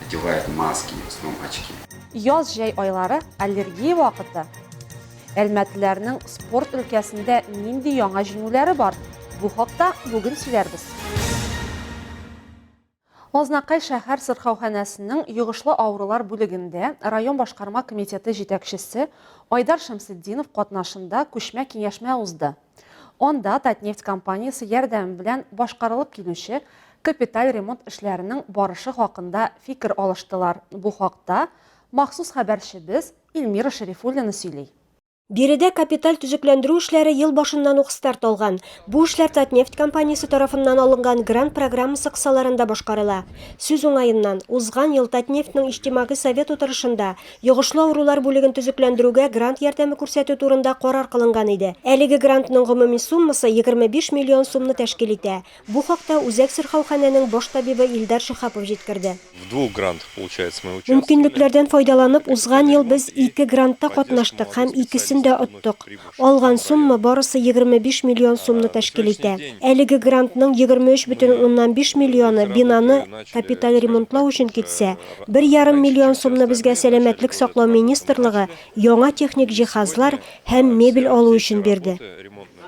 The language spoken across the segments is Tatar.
Одевает маски, в основном очки. Яз-җәй айлары, аллергия вакыты. Әлмәтләрнең спорт өлкәсендә нинди яңа җиңүләре бар? Бу хакта бүген сөйләрбез. Азнакай шәһәр сырхауханәсенең йогышлы авырулар бүлегендә район башкарма комитеты җитәкчесе Айдар Шәмсетдинов катнашында күчмә киңәшмә узды. Анда Татнефть компаниясе ярдәме белән башкарылып килүче капиталь ремонт эшләренең барышы хакында фикер алыштылар. Бу хакта махсус хәбәрчебез Эльмира Шәрифуллина сөйли. Биредә капиталь төзекләндерү эшләре ел башыннан ук старт алган. Бу эшләр Татнефть компаниясе тарафыннан алынган грант программасы кысаларында башкарыла. Сүз уңаеннан, узган ел Татнефтьнең Иҗтимагый совет утырышында Йогышлы авырулар бүлеген төзекләндерүгә грант ярдәме күрсәтү турында карар кылынган иде. Әлеге грантның гомуми суммасы 25 миллион сумны тәшкил итә. Бу хакта Үзәк сырхауханәнең баш табибы Илдар Шиһапов җиткерде. В двух грантах, получается, мы участвовали. Мөмкинлекләрдән файдаланып, узган ел без ике грантта катнаштык һәм икесен дә оттык. Алган сумма барысы 25 миллион сумны тәшкил итә. Әлеге грантның 23 бөтен уннан биш миллионы бинаны капиталь ремонтлау өчен китсә, бер ярым миллион сумны безгә Сәламәтлек саклау министрлыгы яңа техник җиһазлар һәм мебель алу өчен бирде.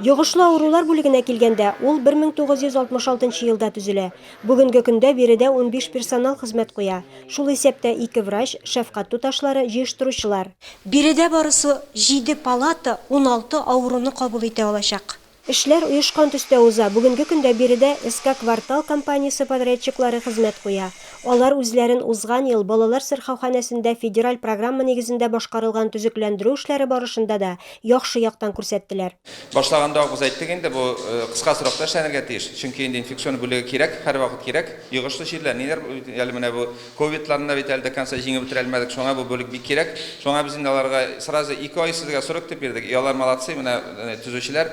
Йогышлы авырулар бүлегенә килгәндә, ул 1966 елда төзелә. Бүгенге көндә биредә унбиш персонал хезмәт куя, шул исәптә ике врач, шәфкать туташлары, җыештыручылар. Биредә барысы җиде палата уналты авыруны кабул итә алачак. Эшләр оешкан төстә уза. Бүгенге көндә биредә СК Квартал компаниясе подрядчиклары хезмәт куя. Алар үзләрен узган ел балалар сырхауханәсендә федераль программа нигезендә башкарылган төзекләндерү эшләре барышында да яхшы яктан күрсәттеләр. Башлаганда ук без әйттек инде, бу кыска срокта эшләнергә тиеш, чөнки инде инфекцион бүлеге кирәк, һәрвакыт кирәк. Йогышлы чирләр, ниләр әле менә бу ковидларны да бит әле до конца җиңеп бетерә алмадык, шуңа бу бүлек бик кирәк. Шуңа без инде аларга сразу ике ай сезгә срок дип бирдек, и алар молодцы, менә төзүчеләр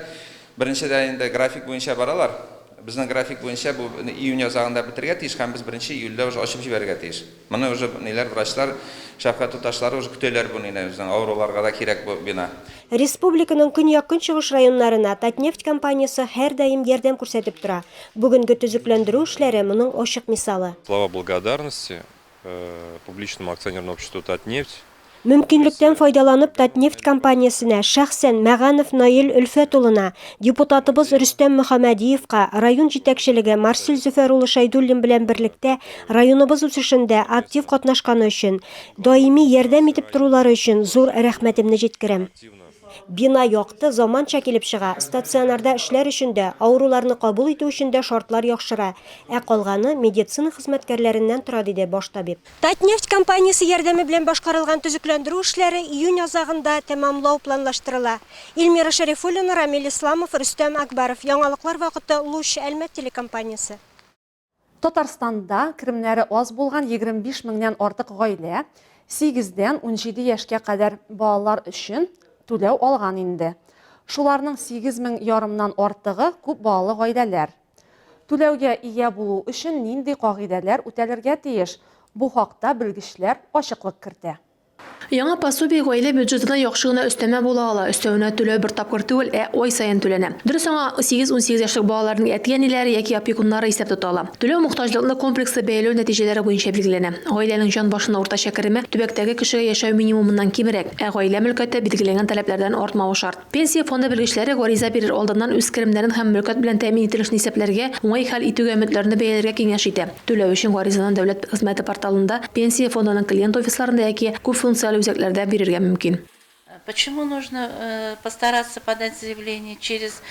беренчедән инде график буенча баралар. Безнең график буенча бу июнь азагында бетергә тиеш һәм без беренче июльдә уже ачып җибәрергә тиеш. Моны уже ниләр врачлар, шәфкать туташлары уже көтәләр бу нины, безнең авыруларга да кирәк бу бина. Республиканың көньяк-көнчыгыш районнарына Татнефть компаниясе һәрдаим ярдәм күрсәтеп тора. Бүгенге төзекләндерү эшләре моның ачык мисалы. Слова благодарности Публичному акционерному обществу Татнефть Мөмкинлектән файдаланып Татнефть компаниясенә, шәхсән Мәганов Наил Өлфәт улына, депутатыбыз Рөстәм Мөхәмәдиевка, район җитәкчелеге Марсель Зөфәр улы Шәйдуллин белән берлектә районыбыз үсешендә актив катнашканы өчен, даими ярдәм итеп торулары өчен зур рәхмәтемне җиткерәм. Бина якты, заманча килеп чыга, стационарда эшләр өчен дә, авыруларны кабул итү өчен дә шартлар яхшыра, ә калганы медицина хезмәткәрләреннән тора, диде баш табиб. Татнефть компаниясе ярдәме белән башкарылган төзекләндерү эшләре июнь азагында тәмамлау планлаштырыла. Ильмира Шәрифуллина, Рамил Исламов, Рөстәм Акбаров, Яңалыклар вакыты, Луч, Әлмәт телекомпаниясе. Татарстанда керемнәре аз булган 25 меңнән артык гаилә сигез дән унҗиде яшькә кадәр балалар өчен түләү алган инде. Шуларның сигез мең ярымнан артыгы күп балалы гаиләләр. Түләүгә ия булу өчен нинди кагыйдәләр үтәлергә тиеш? Бу хакта белгечләр ачыклык кертә. Яңа пособие гаилә бюджетына яхшы гына өстәмә була ала. Өстәвенә, түләү бер тапкыр түгел, ә ай саен түләнә. Дөрес, аңа сигез-унсигез яшьлек балаларның әти-әниләре яки опекуннары исәп тота ала. Түләү мохтаҗлыкны комплекслы бәяләү нәтиҗәләре буенча билгеләнә. Гаиләнең җан башына уртача кереме төбәктәге кешегә яшәү минимумыннан кимрәк, ә гаилә мөлкәте билгеләнгән таләпләрдән артмавы шарт. Пенсия фонды белгечләре гариза бирер алдыннан үз керемнәрен һәм мөлкәт белән тәэмин ителешне исәпләргә, уңай хәл итүгә өметләрне бәяләргә киңәш итә. Түләү өчен гаризаны Дәүләт хезмәте порталында, Пенсия фондының клиент офисларында яки күпфункцияле үзәкләрдә бирергә мөмкин. Почему нужно постараться подать заявление через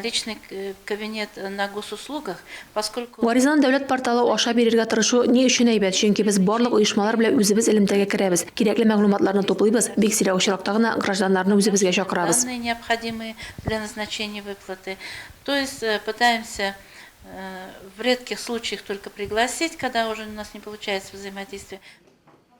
личный кабинет на госуслугах? Гаризаны дәүләт порталы аша бирергә тырышу ни өчен әйбәт, чөнки без барлык оешмалар белән үзебез элемтәгә керәбез, кирәкле мәгълүматларны туплыйбыз, бик сирәк очракта гына гражданнарны үзебезгә чакырабыз.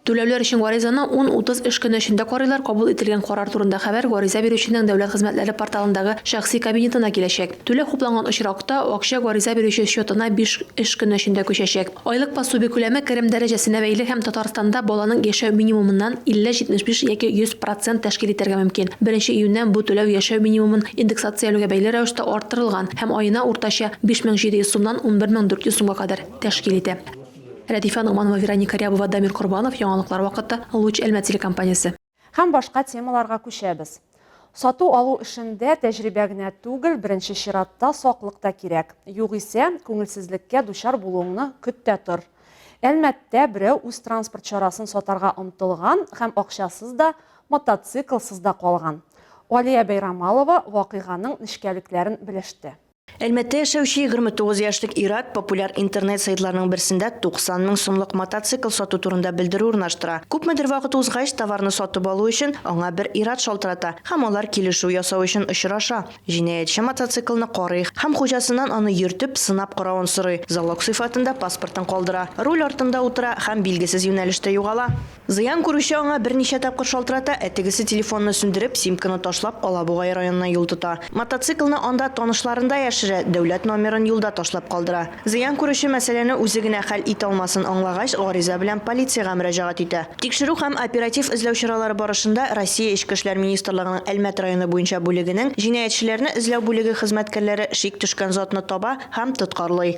Түләүләр өчен гаризаны ун-утыз эш көне эчендә карыйлар, кабул ителгән карар турында хәбәр гариза бирүченең дәүләт хезмәтләре порталындагы шәхси кабинетына киләчәк. Түләү хупланган очракта, акча гариза бирүче счетына биш эш көне эчендә күчәчәк. Айлык пособие күләме керем дәрәҗәсенә бәйле һәм Татарстанда баланың яшәү минимумыннан 50-75 яки 100 процент тәшкил итәргә мөмкин. Беренче июньнән бу түләү яшәү минимумын индексацияләүгә бәйле рәвештә арттырылган һәм аена уртача 5700 сумнан 11400 сумга кадәр тәшкил итә. Рәдифә Ногманова, Вероника Рябова, Дамир Корбанов, Яңалыклар вакыты, Луч Әлмәт телекомпаниясе. Һәм башка темаларга күчәбез. Сату-алу эшендә тәҗрибә генә түгел, беренче чиратта саклык та кирәк. Югыйсә, күңелсезлеккә дучар булуыңны көт тә тор. Әлмәттә берәү үз транспорт чарасын сатарга омтылган һәм акчасыз да, мотоциклсыз да калган. Алия Бәйрамалова вакыйганың нечкәлекләрен белеште. Әлмәттә яшәүче 29 яшьлек ир-ат популяр интернет-сайтларның берсендә 90 мең сумлык мотоцикл сату турында белдерү урнаштыра. Күпмедер вакыт узгач, товарны сатып алу өчен аңа бер ир-ат шалтырата һәм алар килешү ясау өчен очраша. Җинаятьче мотоциклны карый һәм хуҗасыннан аны йөртеп, сынап каравын сорый, залог сыйфатында паспортын калдыра, руль артында утыра һәм билгесез юнәлештә югала. Зыян күрүче аңа берничә тапкыр шалтырата, ә тегесе телефонны сүндереп, симканы ташлап, Алабугай районына юл тота. Мотоциклны анда танышларында яшерә, дәүләт номерын юлда ташлап калдыра. Зыян күрүче мәсьәләне үзе генә хәл итә алмасын аңлагач, гариза белән полициягә мөрәҗәгать итә. Тикшерү һәм оператив эзләү чаралары барышында Россия Эчке эшләр министрлыгының Әлмәт районы буенча бүлегенең җинаятьчеләрне эзләү бүлеге хезмәткәрләре шик төшкән затны таба һәм тоткарлый.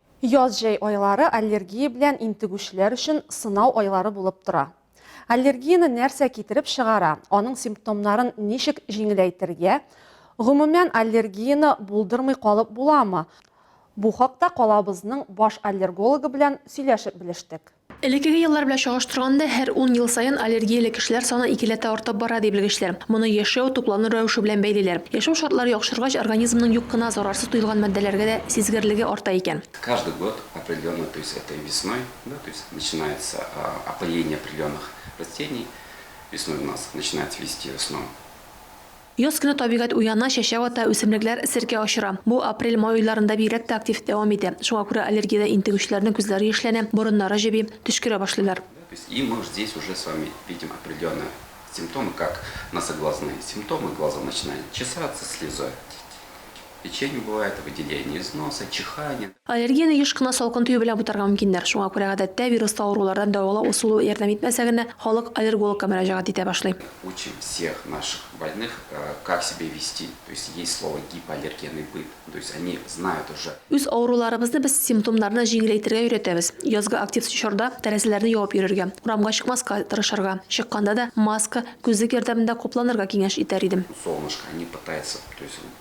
Яз-җәй айлары аллергия белән интегүчеләр өчен сынау айлары булып тора. Аллергияне нәрсә китереп чыгара, аның симптомнарын ничек җиңеләйтергә, гомумән, аллергияне булдырмый калып буламы, бу хакта калабызның баш аллергологы белән сөйләшеп белештек. Элеккеге еллар белән чагыштырганда, һәр ун ел саен аллергияле кешеләр саны икеләтә артып бара, ди белгечләр. Моны яшәү, туклану рәвеше белән бәйлиләр. Яшәү шартлары яхшыргач, организмның юк кына зарарсыз тоелган матдәләргә дә сизгерлеге арта икән. Каждый год определенный, то есть это и весной, да, то есть начинается опыление определенных растений, весной у нас начинает цвести в основном. Яз көне табигать уяна, чәчәк ата, үсемлекләр серкә очыра. Бу апрель-май айларында бигрәк тә актив дәвам итә. Шуңа күрә аллергиядән интегүчеләрнең күзләре яшьләнә, борыннары җеби, төчкерә башлыйлар. То есть и мы здесь уже с вами видим определенные симптомы, как носоглазные симптомы, глаза начинают чесаться, слезать. Печень бывает, выделение из носа, чихание. Аллергияне еш кына салкын төю белән бутарга мөмкиннәр. Шуңа күрә гадәттә вируслы авырулардан дәвалау ысулы ярдәм итмәсә генә, халык аллергологка мөрәҗәгать итә башлый. Учим всех наших больных, как себя вести, то есть есть слово гипоаллергенный быт, то есть они знают уже. Үз авыруларыбызны без симптомнарны җиңеләйтергә өйрәтәбез. Язгы актив чорда тәрәзәләрне ябып йөрергә, урамга чыкмаска тырышырга, чыкканда да маска, күзлек ярдәмендә капланырга киңәш итәр идем. Солнышко они пытаются, то есть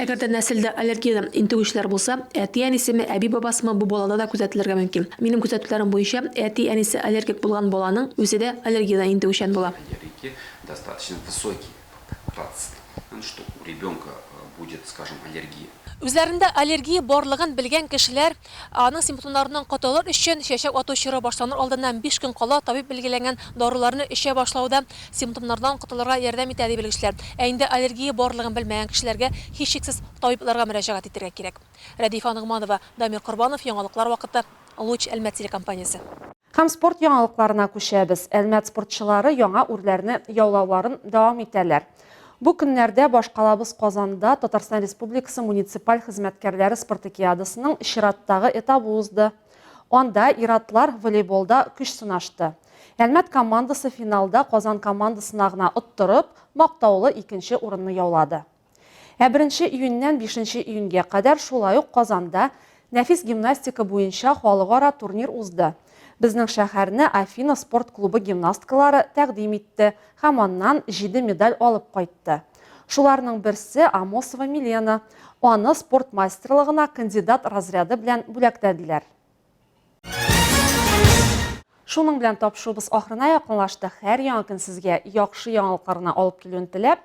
Әгәр дә нәселдә аллергия интегүчеләр булса, әти-әнисеме, әби-бабасымы бу балада да күзәтелергә мөмкин. Минем күзәтүләрем буенча, әти-әнисе аллергик булган баланың үзе дә аллергиядән интегүчән була. Үзләрендә аллергия барлыгын белгән кешеләр Аның симптомнарыннан котылыр өчен, чәчәк ату чоры башланыр алдыннан биш көн кала табиб билгеләгән даруларны эчә башлау да симптомнардан котылырга ярдәм итә, ди белгечләр. Ә инде аллергия барлыгын белмәгән кешеләргә, һичшиксез, табибларга мөрәҗәгать итәргә кирәк. Рәдифә Ногманова, Дамир Корбанов, Яңалыклар вакыты, Луч, Әлмәт телекомпаниясе. Һәм спорт яңалыкларына күчәбез. Әлмәт спортчылары яңа үрләрне яулауларын дәвам итәләр. Бу көннәрдә башкалабыз Казанда Татарстан Республикасы муниципаль хезмәткәрләре спартакиадасының чираттагы этабы узды. Анда ир-атлар волейболда көч сынашты. Әлмәт командасы финалда Казан командасына гына оттырып, мактаулы икенче урынны яулады. Ә беренче июньнән бишенче июньгә кадәр шулай ук Казанда нәфис гимнастика буенча халыкара турнир узды. Безнең шәһәрне Афина спорт клубы гимнасткалары тәкъдим итте һәм аннан җиде медаль алып кайтты. Шуларның берсе, Амосова Милена. Аны спорт мастерлыгына кандидат разряды белән бүләкләделәр. Шуның белән тапшыруыбыз ахырына якынлашты. Һәр яңа көн сезгә яхшы яңалыклар гына алып килүен теләп,